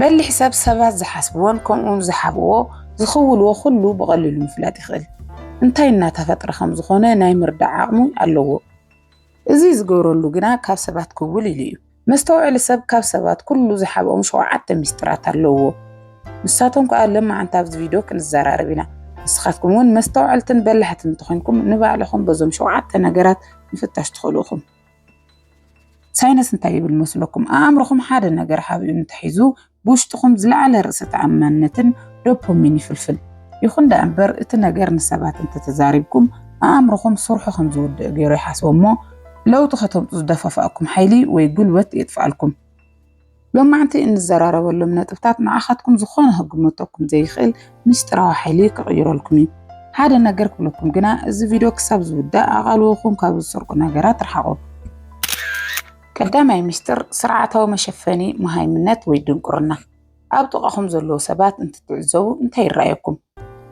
በሊሕ ሰብ ሰባት ዝሓስብዎን ከምኡውን ዝሓብእዎ ዝኽውልዎ ኩሉ ብቐሊሉ ምፍላጥ ይኽእል። እንታይ እናተፈጥረ ከም ዝኾነ ናይ ምርዳእ ዓቕሚ ኣለዎ። እዚ ዝገብረሉ ግና ካብ ሰባት ክውል ኢሉ እዩ። መስተውዕሊ ሰብ ካብ ሰባት ኩሉ ዝሓብኦም ሸውዓተ ሚስጥራት ኣለዎ። ንሳቶም ከዓ ለማዓንቲ ኣብዚ ቪድዮ ክንዘራረብ ኢና። ንስኻትኩም እውን መስተውዐልትን በላሕትን እንተኾይንኩም ንባዕልኹም በዞም ሸውዓተ ነገራት ምፍታሽ ትኽእሉ ኢኹም። ሳይነስ እንታይ ይብል መስለኩም? ኣእምሮኹም ሓደ ነገር ሓቢኡ እንተሒዙ ብውሽጥኹም ዝለዓለ ርእሰ ተኣማንነትን ዶፖሚን ይፍልፍል። ይኹን ደኣ እምበር እቲ ነገር ንሰባት እንተተዛሪብኩም ኣእምሮኹም ስርሑ ከም ዝወድእ ገይሩ ይሓስቦ እሞ ለውጢ ከተምጹ ዝደፋፍኣኩም ሓይሊ ወይ ጉልበት የጥፍኣልኩም። ሎማዕንቲ እንዘራረበሎም ነጥብታት ንዓኻትኩም ዝኾነ ክግመተኩም ዘይኽእል ምስጢራዊ ሓይሊ ክቕይረልኩም እዩ። ሓደ ነገር ክብለኩም ግና እዚ ቪድዮ ክሳብ ዝውዳእ ኣቓልቦኹም ካብ ዝሰርቁ ነገራት ርሓቑ። ቀዳማይ ሚስጥር ስርዓታዊ መሸፈኒ መሃይምነት ወይ ድንቁርና። ኣብ ጥቓኹም ዘለዉ ሰባት እንትትዕዘቡ እንታይ ይረኣየኩም?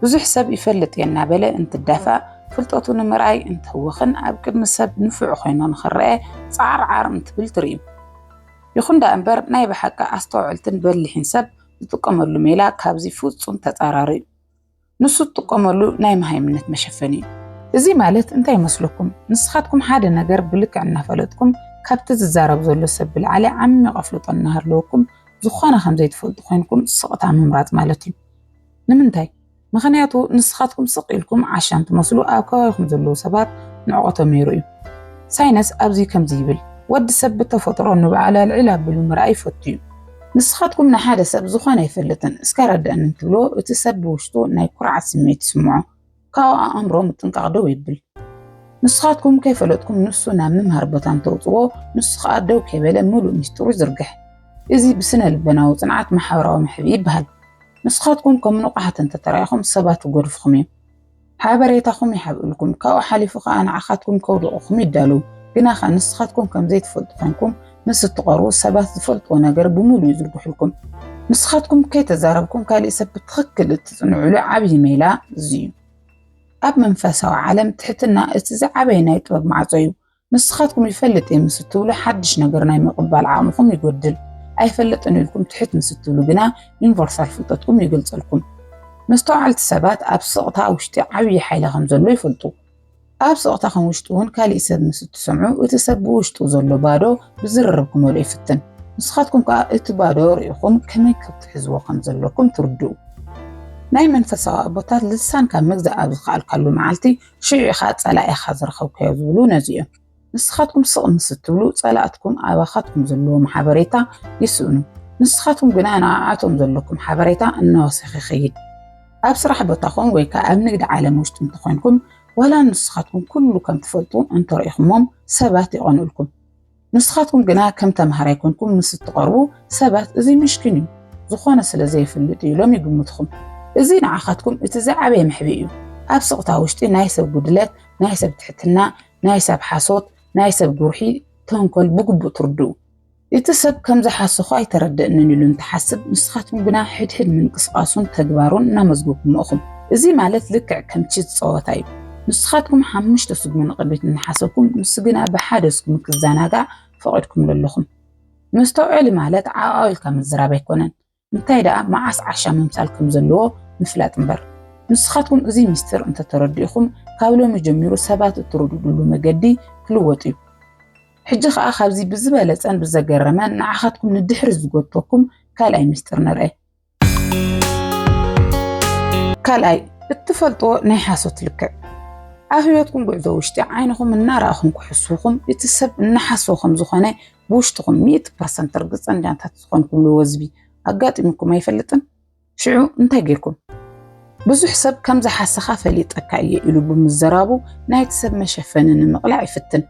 ብዙሕ ሰብ ይፈልጥ እየ እናበለ እንትዳፋእ፣ ፍልጠቱ ንምርኣይ እንትህወኽን ኣብ ቅድሚ ሰብ ንፉዕ ኾይኑ ንኽረኣ ጻዓርዓር እንትብል ትርኢ። ይኹን ደኣ እምበር ናይ ብሓቂ ኣስተውዕልትን በሊሕን ሰብ ዝጥቀመሉ ሜላ ካብዚ ፍጹም ተጻራሪ እዩ። ንሱ ዝጥቀመሉ ናይ መሃይምነት መሸፈኒ እዩ። እዚ ማለት እንታይ ይመስለኩም? ንስኻትኩም ሓደ ነገር ብልክዕ እናፈለጥኩም ካብቲ ዝዛረብ ዘሎ ሰብ ብልዓሊ ዓሚቕ ኣፍልጦ እናሃለወኩም ዝኾነ ከምዘይትፈልጡ ኮይንኩም ስቕታ ምምራጽ ማለት እዩ። ንምንታይ? ምኽንያቱ ንስኻትኩም ስቕ ኢልኩም ዓሻን ትመስሉ ኣብ ከባቢኹም ዘለዉ ሰባት ንዕቆ ተመይሩ እዩ። ሳይነስ ኣብዚ ከምዚ ይብል፣ ወዲ ሰብ ብተፈጥሮ ንበዓል ኣልዒል ኣቢሉ ምርኣይ ይፈቱ እዩ። ንስኻትኩም ንሓደ ሰብ ዝኾነ ኣይፈልጥን እስከ ኣረድኣኒ እንትብልዎ እቲ ሰብ ብውሽጡ ናይ ኩርዓት ስምዒት ይስምዖ። ካብኡ ኣእምሮ ምጥንቃቕ ደው የብል። ንስኻትኩም ከይፈለጥኩም ንሱ ናብ ምምሃር ቦታ እንተውፅዎ ንሱ ከዓ ደው ከይበለ ምሉእ ሚስጥሩ ይዝርግሕ። እዚ ብስነ ልበናዊ ፅንዓት ማሕበራዊ ምሕብኢ ይበሃል። ንስኻትኩም ከም ንቑሓት እንተተራኢኹም ሰባት ይጎድፍኹም እዮም። ሓበሬታኹም ይሓብእልኩም፣ ካብኡ ሓሊፉ ከዓ ንዓኻትኩም ከውድቑኹም ይዳለዉ። ግናኸ ንስኻትኩም ከምዘይትፈልጡ ኮንኩም ምስ እትቐርቡ ሰባት ዝፈልጥዎ ነገር ብምሉኡ ይዝርግሑልኩም። ንስኻትኩም ከይተዛረብኩም ካሊእ ሰብ ብትኽክል እትጽንዕሉ ዓብዪ ሜላ እዚ እዩ። ኣብ መንፈሳዊ ዓለም ትሕትና እቲ ዝዓበየ ናይ ጥበብ ማዕጾ እዩ። ንስኻትኩም ይፈልጥ እየ ምስ እትብሉ ሓድሽ ነገር ናይ ምቕባል ዓቕምኹም ይጎድል። ኣይፈልጥን ኢልኩም ትሕት ምስ እትብሉ ግና ዩኒቨርሳል ፍልጠትኩም ይገልጸልኩም። መስተውዓልቲ ሰባት ኣብ ስቕታ ውሽጢ ዓብዪ ሓይሊ ከም ዘሎ ይፈልጡ። ኣብ ጸቕጣኹም ውሽጢ እውን ካሊእ ሰብ ምስ እትሰምዑ እቲ ሰብ ብውሽጡ ዘሎ ባዶ ብዝርርብ ክመልኦ ይፍትን። ንስኻትኩም ከኣ እቲ ባዶ ርኢኹም ከመይ ክትሕዝዎ ከም ዘለኩም ትርድኡ። ናይ መንፈሳዊ ኣቦታት ልሳንካ ምግዛእ ኣብ ዝኸኣልካሉ መዓልቲ ሽዑ ኢኻ ጸላኢኻ ዝረኸብካዮ ዝብሉ ነዚ እዮም። ንስኻትኩም ስቕ ምስ እትብሉ፣ ጸላእትኩም ኣባኻትኩም ዘለዎም ሓበሬታ ይስእኑ፣ ንስኻትኩም ግና ንኣኣቶም ዘለኩም ሓበሬታ እናወሰኸ ይኸይድ። ኣብ ስራሕ ቦታኹም ወይ ከኣ ኣብ ንግዲ ዓለም ውሽጢ እንተ ኾይንኩም፣ ዋላ ንስኻትኩም ኩሉ ከም ትፈልጡ እንተ ርኢኹምዎም፣ ሰባት ይቐንኡልኩም። ንስኻትኩም ግና ከም ተመሃራይ ኰንኩም ምስ እትቐርቡ፣ ሰባት እዚ ምሽኪን እዩ፣ ዝኾነ ስለ ዘይፍልጥ እዩ ኢሎም ይግምቱኹም። እዚ ንዓኻትኩም እቲ ዝዓበየ መሕብኢ እዩ። ኣብ ስቕታ ውሽጢ ናይ ሰብ ጉድለት፣ ናይ ሰብ ትሕትና፣ ናይ ሰብ ሓሶት፣ ናይ ሰብ ጉርሒ፣ ተንኮል ብግቡእ ትርድኡ። እቲ ሰብ ከም ዝሓሰኹ ኣይተረደእንን ኢሉ እንትሓስብ፣ ንስኻትኩም ግና ሕድሕድ ምንቅስቓሱን ተግባሩን እናመዝገብኩሞ ኢኹም። እዚ ማለት ልክዕ ከም ቺዝ ጸወታ እዩ። ንስኻትኩም ሓሙሽተ ስጉሚ ንቕድሚት እናሓሰብኩም፣ ንሱ ግና ብሓደ ስጉሚ ክዘናጋዕ ፈቒድኩምሉ ኣለኹም። መስተውዐሊ ማለት ዓዕቋው ኢልካ ምዝራብ ኣይኮነን። እንታይ ደኣ መዓስ ዓሻ ምምሳል ከም ዘለዎ ምፍላጥ እምበር። ንስኻትኩም እዚ ምስጢር እንተ ተረዲእኹም፣ ካብ ሎሚ ጀሚሩ ሰባት እትርድድሉ መገዲ ክልወጥ እዩ። ሕጂ ኸኣ ካብዚ ብዝበለጸን ብዘገረመን ንዓኻትኩም ንድሕሪት ዝጎትተኩም ካልኣይ ምስጢር ንርኣ። ካልኣይ፣ እትፈልጥዎ ናይ ሓሶት ልክዕ። ኣብ ህይወትኩም ጉዕዞ ውሽጢ ዓይንኹም እናረኣኹም ክሕስዉኹም፣ እቲ ሰብ እናሓሰወ ከም ዝኾነ ብውሽጥኹም ሚእቲ ፐርሰንት ርግፀኛታት ዝኾንኩምሉ ወዝቢ ኣጋጢሙኩም ኣይፈልጥን? ሽዑ እንታይ ጌርኩም? ብዙሕ ሰብ ከም ዝሓሰኻ ፈሊጠካ እየ ኢሉ ብምዘራቡ ናይቲ ሰብ መሸፈኒ ንምቕላዕ ይፍትን።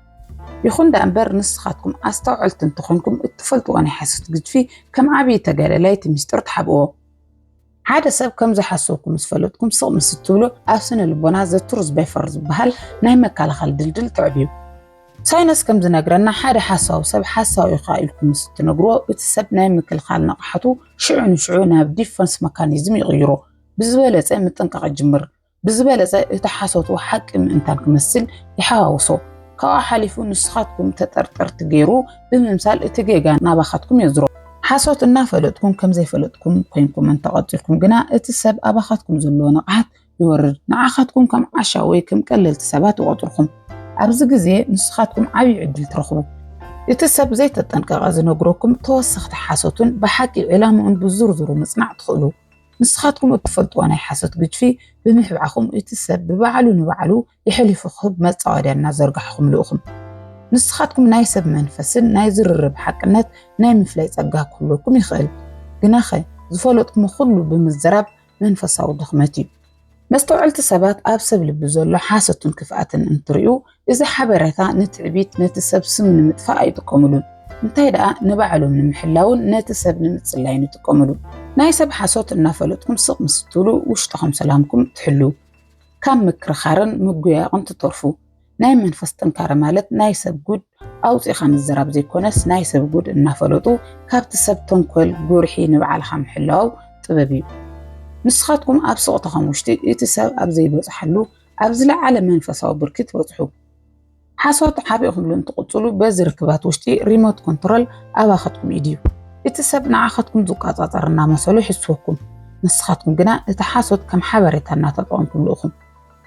ይኹን ደኣ እምበር ንስኻትኩም ኣስተውዐልቲ እንተኾንኩም እትፈልጥዎ ናይ ሓሶት ግድፊ ከም ዓብዪ ተጋዳላይ እቲ ሚስጥር ትሓብእዎ። ሓደ ሰብ ከም ዝሓሰብኩ ምስ ፈለጥኩም ስቕ ምስ እትብሉ ኣብ ስነ ልቦና ዘትሩዝ በፈር ዝበሃል ናይ መከላኸሊ ድልድል ትዕብዩ። ሳይነስ ከም ዝነግረና ሓደ ሓሳዊ ሰብ ሓሳዊ ኢኻ ኢልኩም ምስ እትነግርዎ እቲ ሰብ ናይ ምክልኻል ንቕሓቱ ሽዑ ንሽዑ ናብ ዲፈንስ መካኒዝም ይቕይሮ ብዝበለፀ ምጥንቃቕ ይጅምር። ብዝበለጸ እቲ ሓሶቱ ሓቂ ምእንታን ክመስል ይሓዋውሶ። ካብኡ ሓሊፉ ንስኻትኩም ተጠርጠርቲ ገይሩ ብምምሳል እቲ ጌጋ ናባኻትኩም የዝሮ። ሓሶት እናፈለጥኩም ከም ዘይፈለጥኩም ኮይንኩም እንተቐጺልኩም ግና እቲ ሰብ ኣባኻትኩም ዘለዎ ንቕሓት ይወርድ። ንዓኻትኩም ከም ዓሻ ወይ ከም ቀለልቲ ሰባት ይቖጽርኩም። ኣብዚ ግዜ ንስኻትኩም ዓብዪ ዕድል ትረኽቡ። እቲ ሰብ ዘይተጠንቀቐ ዝነግረኩም ተወሰኽቲ ሓሶትን ብሓቂ ዕላምኡን ብዝርዝሩ ምጽናዕ ትኽእሉ። ንስኻትኩም እትፈልጥዎ ናይ ሓሶት ግድፊ ብምሕብዓኹም እቲ ሰብ ብባዕሉ ንባዕሉ የሕሊፉ ክህብ መጻወድያ እናዘርጋሕኹምሉ ኢኹም። ንስኻትኩም ናይ ሰብ መንፈስን ናይ ዝርርብ ሓቅነት ናይ ምፍላይ ጸጋ ክህልወኩም ይኽእል። ግናኸ ዝፈለጥኩሞ ኩሉ ብምዝራብ መንፈሳዊ ድኽመት እዩ። መስተውዐልቲ ሰባት ኣብ ሰብ ልቢ ዘሎ ሓሶትን ክፍኣትን እንትርእዩ እዚ ሓበሬታ ንትዕቢት ነቲ ሰብ ስም ንምጥፋእ ኣይጥቀምሉን። እንታይ ደኣ ንባዕሎም ንምሕላውን ነቲ ሰብ ንምጽላይን ይጥቀምሉ። ናይ ሰብ ሓሶት እናፈለጥኩም ስቕ ምስ እትብሉ ውሽጥኹም ሰላምኩም ትሕልው። ካብ ምክርኻርን ምጉያየቕን ትተርፉ። ናይ መንፈስ ጥንካረ ማለት ናይ ሰብ ጉድ ኣውፂእኻ ምዝራብ ዘይኮነስ ናይ ሰብ ጉድ እናፈለጡ ካብቲ ሰብ ተንኮል ጉርሒ ንባዕልኻ ምሕላው ጥበብ እዩ። ንስኻትኩም ኣብ ስቕታኹም ውሽጢ እቲ ሰብ ኣብ ዘይበፅሓሉ ኣብ ዝለዓለ መንፈሳዊ ብርኪ ትበፅሑ። ሓሶት ሓቢእኹምሉ እንትቕፅሉ በዚ ርክባት ውሽጢ ሪሞት ኮንትሮል ኣባኸትኩም ኢድ እዩ። እቲ ሰብ ንዓኻትኩም ዝቆፃፀር እናመሰሉ ይሕስወኩም፣ ንስኻትኩም ግና እቲ ሓሶት ከም ሓበሬታ እናተጠቐምኩምሉ ኢኹም።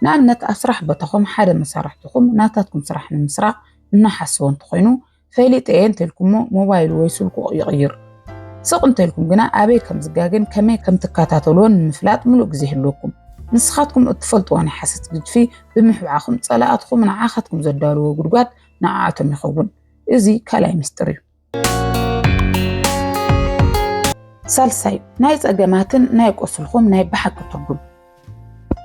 ንኣብነት ኣብ ስራሕ ቦታኹም ሓደ መሳርሕትኹም ናታትኩም ስራሕ ንምስራቕ እናሓሰወ እንተኾይኑ ፈሊጠ እየ እንተልኩሞ ሞባይሉ ወይ ስልኩ ይቕይር። ስቕ እንተልኩም ግና ኣበይ ከም ዝጋገን ከመይ ከም ትከታተልዎን ንምፍላጥ ምሉእ ግዜ ይህልወኩም። ንስኻትኩም እትፈልጥዎ ናይ ሓሰት ግጅፊ ብምሕብዓኹም ጸላእትኹም ንዓኻትኩም ዘዳልዎ ጉድጓድ ንዓኣቶም ይኸውን። እዚ ካልኣይ ምስጢር እዩ። ሳልሳይ ናይ ጸገማትን ናይ ቁስልኹም ናይ ብሓቂ ትርጉም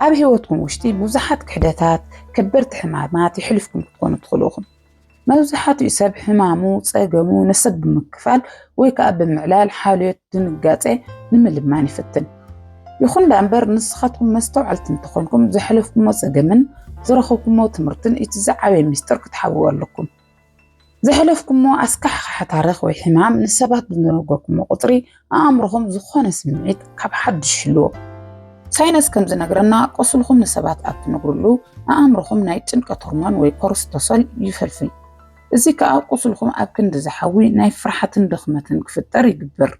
ኣብ ህይወትኩም ውሽጢ ብዙሓት ክሕደታት ከበድቲ ሕማማት ይሕልፍኩም ክትኮኑ ትኽእሉ ኢኹም መብዛሕትኡ ሰብ ሕማሙ ጸገሙ ንሰብ ብምክፋል ወይ ከዓ ብምዕላል ሓልዮት ድንጋጼ ንምልማን ይፍትን ይኹን ዳ እምበር ንስኻትኩም መስተውዓልቲ እንተኾንኩም ዘሕለፍኩሞ ጸገምን ዝረኸብኩሞ ትምህርትን እቲ ዝዓበየ ሚስጥር ክትሓብኡ ኣለኩም ዘሕለፍኩሞ ኣስካሕኻሒ ታሪኽ ወይ ሕማም ንሰባት ብዝነገርኩሞ ቁፅሪ ኣእምሮኹም ዝኾነ ስምዒት ካብ ሓድሽ ይህልዎ። ሳይነስ ከም ዝነግረና ቁስልኹም ንሰባት ኣብ ትነግርሉ ኣእምሮኹም ናይ ጭንቀት ሆርሞን ወይ ኮርስቶሶል ይፈልፍል። እዚ ከዓ ቁስልኹም ኣብ ክንዲ ዝሓዊ ናይ ፍርሓትን ድኽመትን ክፍጠር ይግብር።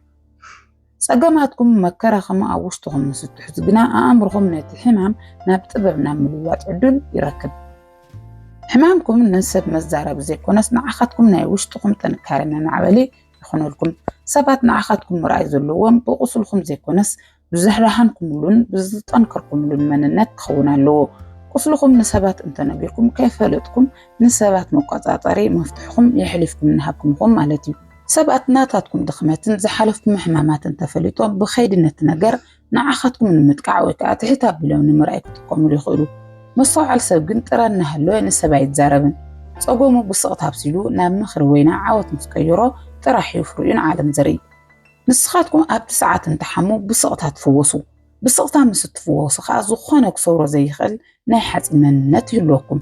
ጸገማትኩም መከራኹም ኣብ ውሽጥኹም ምስ እትሕዙ ግና ኣእምርኹም ነቲ ሕማም ናብ ጥበብ ናብ ምልዋጥ ዕድል ይረክብ። ሕማምኩም ንሰብ መዛረቢ ዘይኮነስ ንዓኻትኩም ናይ ውሽጥኹም ጥንካረ መማዕበሊ ይኹነልኩም። ሰባት ንዓኻትኩም ምርኣይ ዘለዎም ብቁስልኩም ዘይኮነስ ብዝሕራሓንኩምሉን ብዝጠንከርኩምሉን መንነት ክኸውን ኣለዎ። ቁስልኹም ንሰባት እንተነጊርኩም ከይፈለጥኩም ንሰባት መቆጻጸሪ መፍትሕኹም የሕሊፍኩም እናሃብኩም ኢኹም ማለት እዩ። ሰባት ናታትኩም ድኽመትን ዝሓለፍኩም ሕማማትን ተፈሊጦም ብኸይዲ ነቲ ነገር ንዓኻትኩም ንምጥቃዕ ወይ ከዓ ትሕት ኣቢሎም ንምርኣይ ክጥቀሙሉ ይኽእሉ። መስተውዓል ሰብ ግን ጥረ እናሃለወ ንሰብ ኣይዛረብን። ፀገሙ ብስቕታ ኣብሲሉ ናብ ምኽሪ ወይ ናብ ዓወት ምስ ቀየሮ ጥራሕ እዩ ፍሪኡ ንዓለም ዘርኢ። ንስኻትኩም ኣብቲ ሰዓት እንትሓሙ ብስቕታ ትፍወሱ። ብስቕታ ምስ እትፍወሱ ኸኣ ዝኾነ ክሰብሮ ዘይኽእል ናይ ሓጺን መንነት ይህልወኩም።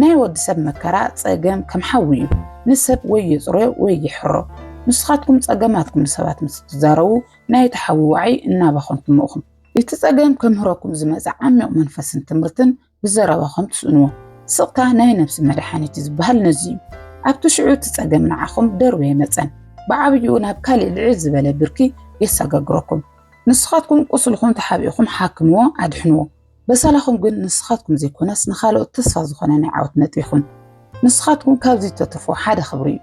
ናይ ወዲ ሰብ መከራ፣ ጸገም፣ ከም ሓዊ እዩ። ንሰብ ወይ የጽርዮ ወይ ይሕሮ። ንስኻትኩም ጸገማትኩም ንሰባት ምስ እትዛረቡ ናይ እቲ ሓዊ ዋዒ እናባኸንኩሞ እኹም። እቲ ጸገም ከምህረኩም ዝመጸ ዓሚቕ መንፈስን ትምህርትን ብዘረባኹም ትስእንዎ ስቕታ ናይ ነብሲ መድሓኒት ዝበሃል ነዚ እዩ። ኣብቲ ሽዑ እቲ ጸገም ንዓኹም ደርበየ መጸን ብዓብይኡ ናብ ካሊእ ልዕል ዝበለ ብርኪ የሳጋግረኩም። ንስኻትኩም ቁስልኹም ተሓቢእኹም ሓክምዎ ኣድሕንዎ። በሰላኹም ግን ንስኻትኩም ዘይኮነስ ንኻልኦት ተስፋ ዝኾነ ናይ ዓወት ነጥቢ ይኹን። ንስኻትኩም ካብዚ እተትርፍዎ ሓደ ክብሪ እዩ።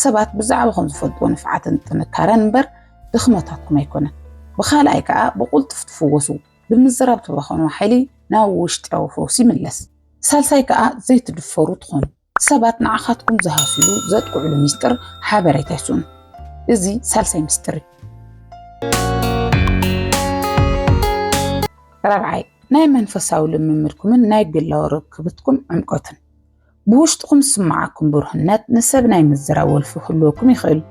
ሰባት ብዛዕባኹም ዝፈልጥዎ ንፍዓትን ጥንካረን እምበር ድኽመታትኩም ኣይኮነን። ብኻልኣይ ከኣ ብቑልጡፍ ትፍወሱ። ብምዝራብ ትባኸኑ ሓይሊ ናብ ውሽጢዊ ፈውሲ ይምለስ። ሳልሳይ ከኣ ዘይትድፈሩ ትኾኑ። ሰባት ንዓኻትኩም ዝሃስዩሉ ዘጥቅዕሉ ሚስጥር ሓበሬታ ይስእኑ። እዚ ሳልሳይ ሚስጥር እዩ። ራብዓይ ናይ መንፈሳዊ ልምምድኩምን ናይ ግላዊ ርክብትኩም ዕምቆትን ብውሽጥኹም ዝስምዓኩም ብሩህነት ንሰብ ናይ ምዝራብ ወልፊ ክህልወኩም ይኽእል።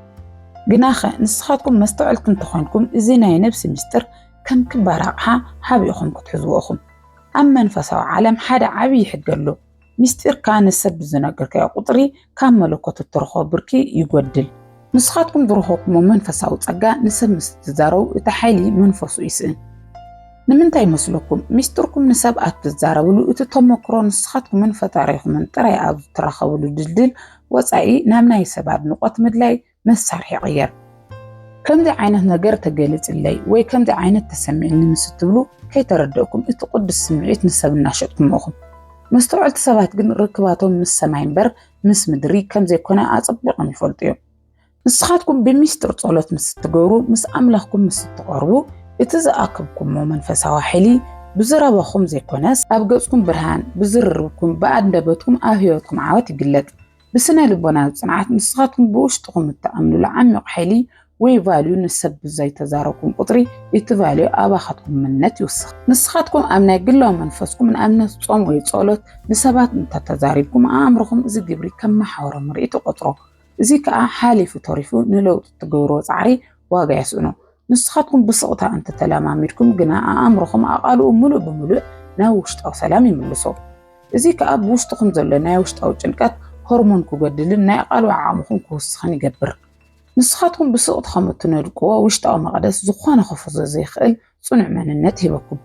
ግናኸ ንስኻትኩም መስተውዐልቲ እንተኾንኩም እዚ ናይ ነብሲ ምስጢር ከም ክባር ኣቕሓ ሓቢእኹም ክትሕዝዎ ኢኹም። ኣብ መንፈሳዊ ዓለም ሓደ ዓብዪ ሕጊ ኣሎ፣ ምስጢርካ ንሰብ ብዝነገርካዮ ቁጽሪ ካብ መለኮት እትረኽቦ ብርኪ ይጎድል። ንስኻትኩም ዝረኸብኩሞ መንፈሳዊ ጸጋ ንሰብ ምስ እትዛረቡ እቲ ሓይሊ መንፈሱ ይስእን። ንምንታይ ይመስለኩም? ሚስጥርኩም ንሰብ ኣብ ትዛረብሉ እቲ ተመክሮ ንስኻትኩምን ፈጣሪኹምን ጥራይ ኣብ እትራኸብሉ ድልድል ወጻኢ ናብ ናይ ሰብ ኣድንቖት ምድላይ መሳርሒ ይቕየር። ከምዚ ዓይነት ነገር ተገሊጽለይ ወይ ከምዚ ዓይነት ተሰሚዕኒ ምስ እትብሉ ከይተረደእኩም እቲ ቅዱስ ስምዒት ንሰብ እናሸጥኩሞ ኢኹም። መስተውዐልቲ ሰባት ግን ርክባቶም ምስ ሰማይ እምበር ምስ ምድሪ ከም ዘይኮነ ኣጸቢቖም ይፈልጡ እዮም። ንስኻትኩም ብሚስጥር ጸሎት ምስ እትገብሩ ምስ ኣምላኽኩም ምስ እትቐርቡ እቲ ዝኣከብኩሞ መንፈሳዊ ሓይሊ ብዝረባኹም ዘይኮነስ ኣብ ገጽኩም ብርሃን ብዝርርብኩም ብኣንደበትኩም ኣብ ህይወትኩም ዓወት ይግለጥ። ብስነ ልቦና ጽንዓት ንስኻትኩም ብውሽጥኹም እትኣምኑሉ ዓሚቕ ሓይሊ ወይ ቫልዩ ንሰብ ብዘይ ተዛረብኩም ቁጽሪ እቲ ቫልዩ ኣባኻትኩም ምነት ይውስኽ። ንስኻትኩም ኣብ ናይ ግላዊ መንፈስኩም ንኣብነት ጾም ወይ ጸሎት ንሰባት እንተ ተዛሪብኩም ኣእምሮኹም እዚ ግብሪ ከም መሓውሮ ምርኢት ይቆጽሮ እዚ ከኣ ሓሊፉ ተሪፉ ንለውጢ እትገብርዎ ጻዕሪ ዋጋ የስእኖ። ንስኻትኩም ብስቕታ እንተ ተለማሚድኩም ግና ኣእምሮኹም ኣቓልኡ ምሉእ ብምሉእ ናብ ውሽጣዊ ሰላም ይምልሶ። እዚ ከኣ ብውሽጥኹም ዘሎ ናይ ውሽጣዊ ጭንቀት ሆርሞን ክጎድልን ናይ ኣቓልቦ ዓቕምኹም ክውስኽን ይገብር። ንስኻትኩም ብስቕት ከም እትነድቅዎ ውሽጣዊ መቕደስ ዝኾነ ክፍርሶ ዘይክእል ጽኑዕ መንነት ሂበኩም።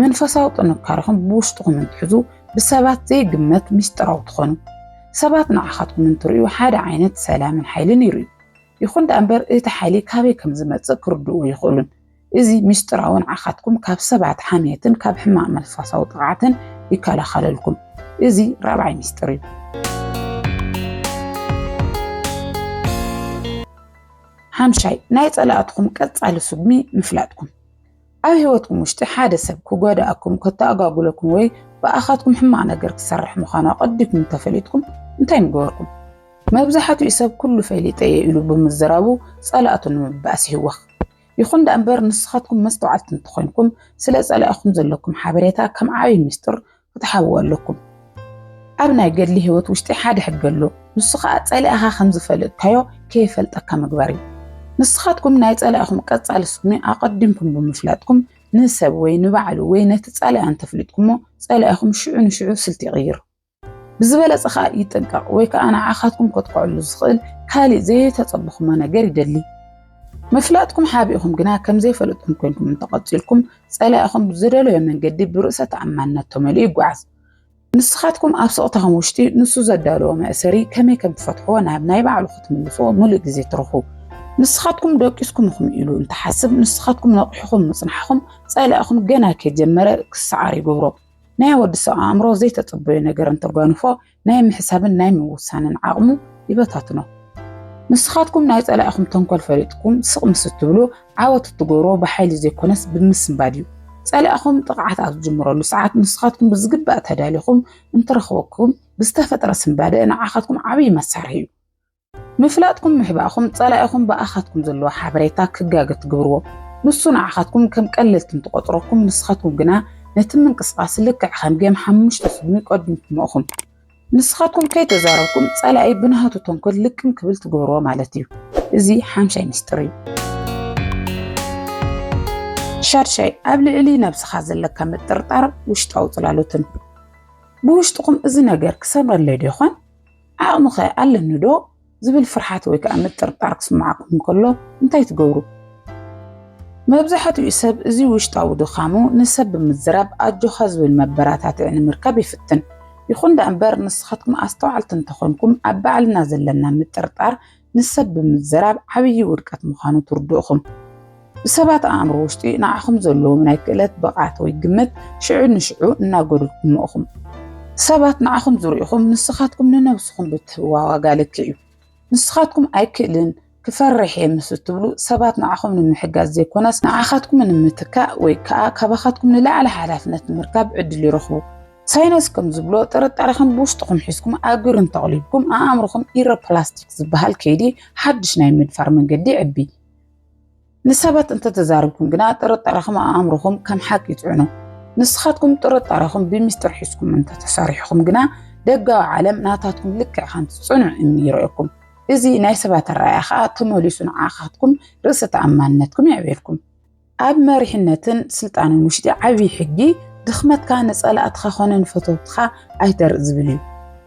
መንፈሳዊ ጥንካረኹም ብውሽጥኹም እንትሕዙ ብሰባት ዘይግመት ምስጢራዊ ትኾኑ። ሰባት ንዓኻትኩም እንትርእዩ ሓደ ዓይነት ሰላምን ሓይልን ይርእዩ። ይኹን ደኣ እምበር እቲ ሓይሊ ካበይ ከም ዝመጽእ ክርድኡ ኣይኽእሉን። እዚ ምስጢራዊ ንዓኻትኩም ካብ ሰባት ሓምየትን ካብ ሕማቕ መንፈሳዊ ጥቕዓትን ይከላኸለልኩም። እዚ ራብዓይ ምስጢር እዩ። ሓምሻይ ናይ ጸላእትኹም ቀጻሊ ስጉሚ ምፍላጥኩም። ኣብ ህይወትኩም ውሽጢ ሓደ ሰብ ክጎዳእኩም፣ ከተኣጓጉለኩም ወይ ብኣኻትኩም ሕማቕ ነገር ክሰርሕ ምዃኑ ኣቐዲኩም እንተፈሊጥኩም እንታይ ምገበርኩም? መብዛሕትኡ ሰብ ኩሉ ፈሊጠ እየ ኢሉ ብምዝራቡ ጸላእቱ ንምብኣስ ይህወኽ። ይኹን ደኣምበር ንስኻትኩም መስተውዓልቲ እንተኾይንኩም ስለ ጸላኢኹም ዘለኩም ሓበሬታ ከም ዓብይ ምስጢር ክትሓብዎ ኣለኩም። ኣብ ናይ ገድሊ ህይወት ውሽጢ ሓደ ሕጊ ኣሎ፣ ንሱ ከዓ ጸላኢኻ ከም ዝፈለጥካዮ ከይፈልጠካ ምግባር እዩ። ንስኻትኩም ናይ ጸላኢኹም ቀጻሊ ስሙ ኣቐዲምኩም ብምፍላጥኩም ንሰብ ወይ ንባዕሉ ወይ ነቲ ጸላኢ እንተፍሊጥኩሞ ጸላኢኹም ሽዑ ንሽዑ ስልቲ ይቕይር። ብዝበለጸ ከኣ ይጥንቀቕ ወይ ከኣ ንዓኻትኩም ከጥቅዐሉ ዝኽእል ካልእ ዘየተጸበኹሞ ነገር ይደሊ። ምፍላጥኩም ሓቢእኹም ግና ከም ዘይፈለጥኩም ኮንኩም እንተቐጺልኩም ጸላኢኹም ብዝደለዮ መንገዲ ብርእሰ ተኣማንነት ተመሊኡ ይጓዓዝ። ንስኻትኩም ኣብ ስቕታኹም ውሽጢ ንሱ ዘዳለዎ መእሰሪ ከመይ ከም ትፈትሕዎ ናብ ናይ ባዕሉ ክትምልስዎ ምሉእ ግዜ ትረኽቡ። ንስኻትኩም ደቂስኩም ኢኹም ኢሉ እንተሓስብ ንስኻትኩም ነቒሕኹም ምጽናሕኹም ጸላኢኹም ገና ከይጀመረ ክሰዓር ይገብሮ። ናይ ወዲ ሰብ ኣእምሮ ዘይተጸበዮ ነገር እንተጓንፎ ናይ ምሕሳብን ናይ ምውሳንን ዓቕሙ ይበታትኖ። ንስኻትኩም ናይ ጸላኢኹም ተንኮል ፈሊጥኩም ስቕ ምስ እትብሉ ዓወት እትገብሮ ብሓይሊ ዘይኮነስ ብምስንባድ እዩ። ጸላኢኹም ጥቕዓት ኣብ ዝጅምረሉ ሰዓት ንስኻትኩም ብዝግባእ ተዳሊኹም እንትረኽበኩም ብዝተፈጥረ ስንባደ ንዓኻትኩም ዓብዪ መሳርሒ እዩ። ምፍላጥኩም ምሕባእኩም ጸላኢኹም ብኣኻትኩም ዘለዎ ሓበሬታ ክጋገ ትግብርዎ። ንሱ ንዓኻትኩም ከም ቀለልቲ እንትቆጽረኩም ንስኻትኩም ግና ነቲ ምንቅስቃስ ልክዕ ከም ጌም ሓሙሽተ ስጉሚ ይቀድምኩሞ እኹም። ንስኻትኩም ከይተዛረብኩም ጸላኢ ብናሃቱ ተንኮል ልቅም ክብል ትግብርዎ ማለት እዩ። እዚ ሓምሻይ ሚስጥር እዩ። ሻድሻይ ኣብ ልዕሊ ነብስኻ ዘለካ ምጥርጣር ውሽጣዊ ጽላሎትን ብውሽጥኹም እዚ ነገር ክሰምረለይ ዶ ይኾን ዓቕሚኸ ኣለኒዶ ዝብል ፍርሓት ወይ ከዓ ምጥርጣር ክስምዓኩም እንከሎ እንታይ ትገብሩ? መብዛሕትኡ ሰብ እዚ ውሽጣዊ ድኻሙ ንሰብ ብምዝራብ ኣጆኻ ዝብል መበራታትዒ ንምርካብ ይፍትን። ይኹን ደኣ እምበር ንስኻትኩም ኣስተውዓልቲ እንተኾንኩም ኣብ ባዕልና ዘለና ምጥርጣር ንሰብ ብምዝራብ ዓብዪ ውድቀት ምዃኑ ትርድኡኹም። ብሰባት ኣእምሮ ውሽጢ ንዓኹም ዘለዎም ናይ ክእለት ብቕዓት ወይ ግምት ሽዑ ንሽዑ እናጎድልኩሞ ኢኹም። ሰባት ንዓኹም ዝርእኹም ንስኻትኩም ንነብስኹም ብትህብዋ ዋጋ ልክዕ እዩ። ንስኻትኩም ኣይክእልን፣ ክፈርሕ እየ ምስ እትብሉ ሰባት ንዓኹም ንምሕጋዝ ዘይኮነስ ንዓኻትኩም ንምትካእ ወይ ከኣ ካባኻትኩም ንላዕሊ ሓላፍነት ንምርካብ ዕድል ይረኽቡ። ሳይነስ ከም ዝብሎ ጥርጣረኹም ብውሽጥኹም ሒዝኩም ኣብ ግብሪ እንተቕሊብኩም ኣእምሮኹም ኢሮፕላስቲክ ዝበሃል ከይዲ ሓድሽ ናይ ምድፋር መንገዲ ይዕቢ። ንሰባት እንተተዛርብኩም ግና ጥርጣረኹም ኣእምሮኹም ከም ሓቂ ይፅዕኖ። ንስኻትኩም ጥርጣረኹም ብሚስጥር ሒዝኩም እንተተሰሪሕኹም ግና ደጋዊ ዓለም ናታትኩም ልክዕ ከምቲ ፅኑዕ እምኒ ይርእየኩም። እዚ ናይ ሰባት ኣረኣእያ ከዓ ተመሊሱ ንዓኻትኩም ርእሰ ተኣማንነትኩም የዕብየልኩም። ኣብ መሪሕነትን ስልጣንን ውሽጢ ዓብዪ ሕጊ ድኽመትካ ንፀላእትኻ ኮነ ንፈተውትኻ ኣይተርእ ዝብል እዩ።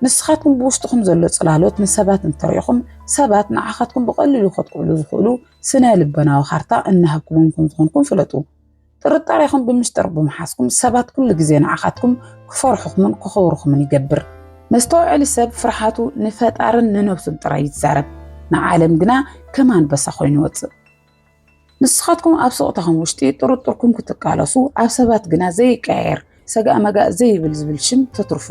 ንስኻትኩም ብውሽጥኹም ዘሎ ጽላሎት ንሰባት እንተሪኢኹም ሰባት ንዓኻትኩም ብቐሊሉ ከጥቅዕሉ ዝኽእሉ ስነ ልበናዊ ካርታ እናሃብኩሞም ከም ዝኾንኩም ፍለጡ። ጥርጣሬኹም ብምስጢር ብምሓዝኩም ሰባት ኩሉ ግዜ ንዓኻትኩም ክፈርሑኹምን ክኸብሩኹምን ይገብር። መስተውዐሊ ሰብ ፍርሓቱ ንፈጣርን ንነብሱን ጥራይ ይዛረብ፣ ንዓለም ግና ከም ኣንበሳ ኮይኑ ይወጽእ። ንስኻትኩም ኣብ ስቕታኹም ውሽጢ ጥርጥርኩም ክትቃለሱ፣ ኣብ ሰባት ግና ዘይቀያየር ሰጋእ መጋእ ዘይብል ዝብል ሽም ተትርፉ።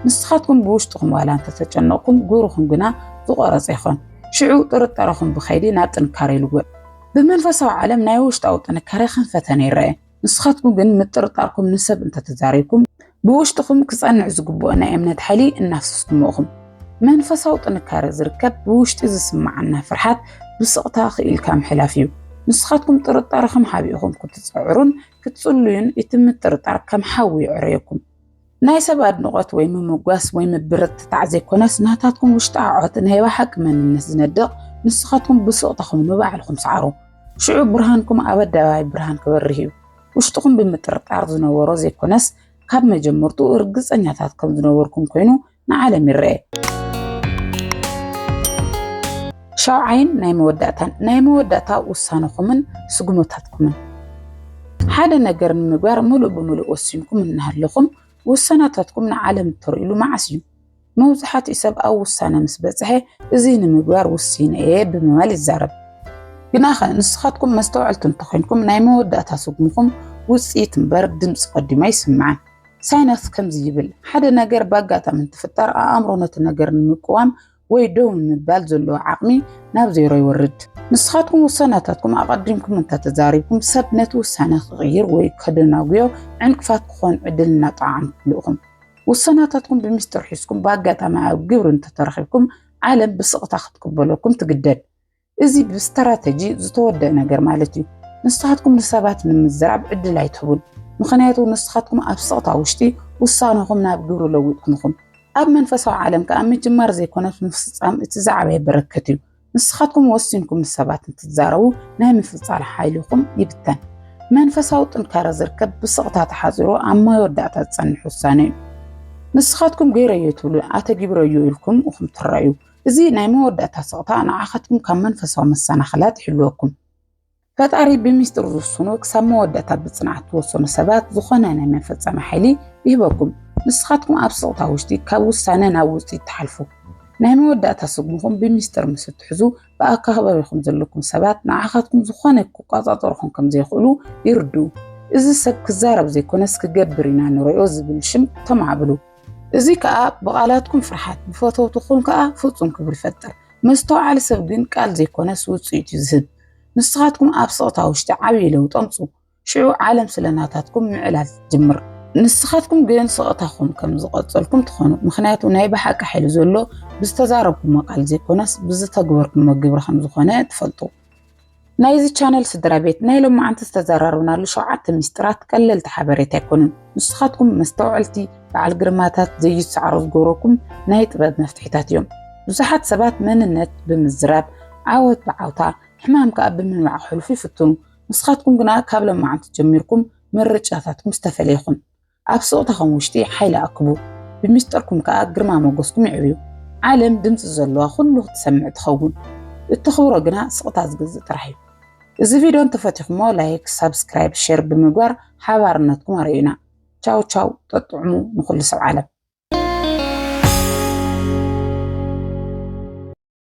ንስኻትኩም ብውሽጥኹም ዋላ እንተተጨነቕኩም ግብርኹም ግና ዝቖረጸ ይኾን። ሽዑ ጥርጠረኹም ብኸይዲ ናብ ጥንካረ ይልወጥ። ብመንፈሳዊ ዓለም ናይ ውሽጣዊ ጥንካረ ከም ፈተነ ይረኣ። ንስኻትኩም ግን ምጥርጣርኩም ንሰብ እንተተዛሪብኩም ብውሽጥኹም ክጸንዕ ዝግብኦ ናይ እምነት ሓይሊ እናፍሰስኩሞ እኹም። መንፈሳዊ ጥንካረ ዝርከብ ብውሽጢ ዝስምዓና ፍርሓት ብስቕታ ክኢልካ ምሕላፍ እዩ። ንስኻትኩም ጥርጣረኹም ሓቢእኹም ክትጸዕሩን ክትጽሉዩን እቲ ምጥርጣር ከም ሓዊ የዕረየኩም። ናይ ሰብ ኣድንቖት ወይ ምምጓስ ወይ ምብርትታዕ ዘይኮነስ ናታትኩም ውሽጣ ዓዖት ናይ ባሓቂ መንነት ዝነድቕ ንስኻትኩም ብሱቕታኹም ንባዕልኹም ሰዓሩ ሽዑ ብርሃንኩም ኣብ ኣደባባይ ብርሃን ክበርህ እዩ ውሽጥኹም ብምጥርጣር ዝነበሮ ዘይኮነስ ካብ መጀመርትኡ እርግጸኛታት ከም ዝነበርኩም ኮይኑ ንዓለም ይረኤ ሻውዓይን ናይ መወዳእታን ናይ መወዳእታ ውሳነኹምን ስጉመታትኩምን። ሓደ ነገር ንምግባር ምሉእ ብምሉእ ወሲንኩም እናሃለኹም ውሳናታትኩም ንዓለም እተርእዩሉ መዓስ እዩ? መብዛሕትኡ ሰብ ኣብ ውሳነ ምስ በጽሐ እዚ ንምግባር ውሲነ እየ ብምባል ይዛረብ። ግናኸ ንስኻትኩም መስተውዐልቲ እንተኾይንኩም ናይ መወዳእታ ስጉምኹም ውጽኢት እምበር ድምጺ ቀዲሙ ኣይስማዕን። ሳይናስ ከምዚ ይብል፣ ሓደ ነገር ብኣጋጣሚ እንትፍጠር ኣእምሮ ነቲ ነገር ንምቅዋም ወይ ደው ንምባል ዘለዎ ዓቕሚ ናብ ዜሮ ይወርድ። ንስኻትኩም ውሳናታትኩም ኣቐዲምኩም እንተተዛሪብኩም ሰብ ነቲ ውሳነ ክቕይር ወይ ከደናጉዮ ዕንቅፋት ክኾን ዕድል እናጠዓምኩሉ ኢኹም። ውሳናታትኩም ብሚስጥር ሒዝኩም ብኣጋጣሚ ኣብ ግብሪ እንተተረኺብኩም ዓለም ብስቕታ ክትቅበለኩም ትግደድ። እዚ ብስትራተጂ ዝተወደእ ነገር ማለት እዩ። ንስኻትኩም ንሰባት ንምዝራብ ዕድል ኣይትህቡን፣ ምኽንያቱ ንስኻትኩም ኣብ ስቕታ ውሽጢ ውሳነኹም ናብ ግብሪ ለዊጥኩም ኢኹም። ኣብ መንፈሳዊ ዓለም ከኣ ምጅማር ዘይኮነስ ምፍጻም እቲ ዝዓበየ በረከት እዩ። ንስኻትኩም ወሲንኩም ንሰባት እንትትዛረቡ ናይ ምፍጻል ሓይልኹም ይብተን። መንፈሳዊ ጥንካረ ዝርከብ ብስቕታ ተሓጺሩ ኣብ መወዳእታ ዝጸንሕ ውሳነ እዩ። ንስኻትኩም ገይረዮ ትብሉ ኣተጊብረዮ ኢልኩም ኢኹም ትረኣዩ። እዚ ናይ መወዳእታ ስቕታ ንዓኻትኩም ካብ መንፈሳዊ መሰናኽላት ይሕልወኩም። ፈጣሪ ብሚስጥር ዝውስኑ ክሳብ መወዳእታ ብጽንዓት ትወሰኑ ሰባት ዝኾነ ናይ መፈጸሚ ሓይሊ ይህበኩም። ንስኻትኩም ኣብ ስቕታ ውሽጢ ካብ ውሳነ ናብ ውጽኢት ትሓልፉ። ናይ መወዳእታ ስጉምኹም ብሚስጥር ምስ እትሕዙ ብኣከባቢኹም ዘለኩም ሰባት ንዓኻትኩም ዝኾነ ክቆጻጸሩኹም ከም ዘይኽእሉ ይርድኡ። እዚ ሰብ ክዛረብ ዘይኮነስ ክገብር ኢና ንርእዮ ዝብል ሽም ተማዕብሉ። እዚ ከኣ ብቓላትኩም ፍርሓት ብፈተውትኹም ከኣ ፍጹም ክብሪ ይፈጥር። መስተውዓሊ ሰብ ግን ቃል ዘይኮነስ ውጽኢት እዩ ዝህብ። ንስኻትኩም ኣብ ስቕታ ውሽጢ ዓብዪ ለውጢ ኣምጹ፣ ሽዑ ዓለም ስለ ናታትኩም ምዕላል ትጅምር። ንስኻትኩም ግን ስቕታኹም ከም ዝቐጸልኩም ትኾኑ፣ ምኽንያቱ ናይ ብሓቂ ሓይሊ ዘሎ ብዝተዛረብኩሞ ቃል ዘይኮነስ ብዝተግበርኩሞ ግብሪ ከም ዝኾነ ትፈልጡ። ናይዚ ቻነል ስድራ ቤት ናይ ሎማዓንቲ ዝተዘራረብናሉ ሸውዓተ ሚስጥራት ቀለልቲ ሓበሬታ ኣይኮኑን። ንስኻትኩም መስተውዐልቲ በዓል ግርማታት ዘይትሰዓሩ ዝገብረኩም ናይ ጥበብ መፍትሒታት እዮም። ብዙሓት ሰባት መንነት ብምዝራብ፣ ዓወት ብዓውታ፣ ሕማም ከኣ ብምንባዕ ክሕልፉ ይፍትኑ። ንስኻትኩም ግና ካብ ሎማዓንቲ ጀሚርኩም ምርጫታትኩም ዝተፈለየ ይኹን። ኣብ ስቕታኹም ውሽጢ ሓይሊ ኣክቡ፣ ብሚስጥርኩም ከኣ ግርማ ሞገስኩም የዕብዩ። ዓለም ድምጺ ዘለዋ ኩሉ ክትሰምዕ ትኸውን። እተኽብሮ ግና ስቕታ ዝግዝእ ጥራሕ እዩ። እዚ ቪድዮ እንተፈቲኹሞ ላይክ፣ ሳብስክራይብ፣ ሼር ብምግባር ሓባርነትኩም ኣርእዩና። ቻው ቻው ጠጥዑሙ ንኹሉ ሰብ ዓለም።